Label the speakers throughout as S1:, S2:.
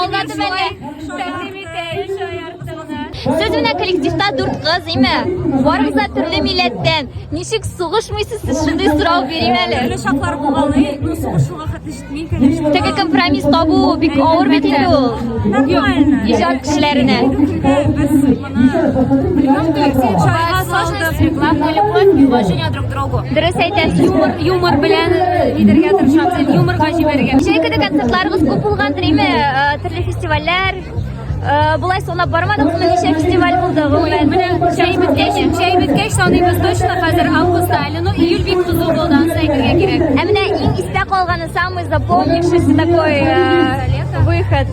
S1: Алдады бәле. Сез менә коллективта дүрт кыз, име? Барыгыз да төрле милләттән. Ничек сугышмыйсыз сез шундый сорау бирим әле. Төрле чаклар булганы,
S2: ну сугышуга хәтле җитми, конечно. Теге компромисс табу
S1: бик авыр бит инде ул. Нормально.
S2: Иҗат кешеләренә.
S1: Без Дөрес әйтәсез, юмор, юмор белән
S2: нидергә тырышабыз, юморга җибәрергә. Шәй көне концертларыбыз
S1: күп булган дреме, төрле фестивальләр, Булай санап бармадык, бу ничә фестиваль булды гомумән. Менә чәй
S2: беткәч, чәй беткәч саныйбыз точно хәзер августта, әле ну июль бик кызу булды, аны әйтергә кирәк. Ә менә иң истә
S1: калганы самый запомнившийся такой выход.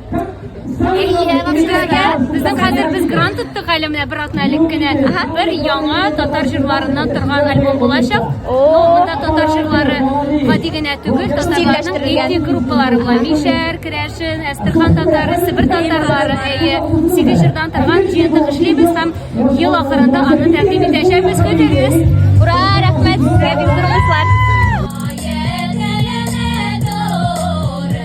S2: Безнең хәзер без грант тоттык әле менә бер атна элек кенә. Бер яңа татар җырларыннан торган альбом булачак. Монда татар җырлары гади генә түгел, татарларның этник группалары була. Мишәр, Керәшен, Әстерхан татары, Себер татарлары, әйе, сигез җырдан торган җыентык эшлибез һәм ел ахырында аны
S1: тәкъдим
S2: итәчәкбез. Көтегез! Ура,
S1: рәхмәт! Бик
S2: зур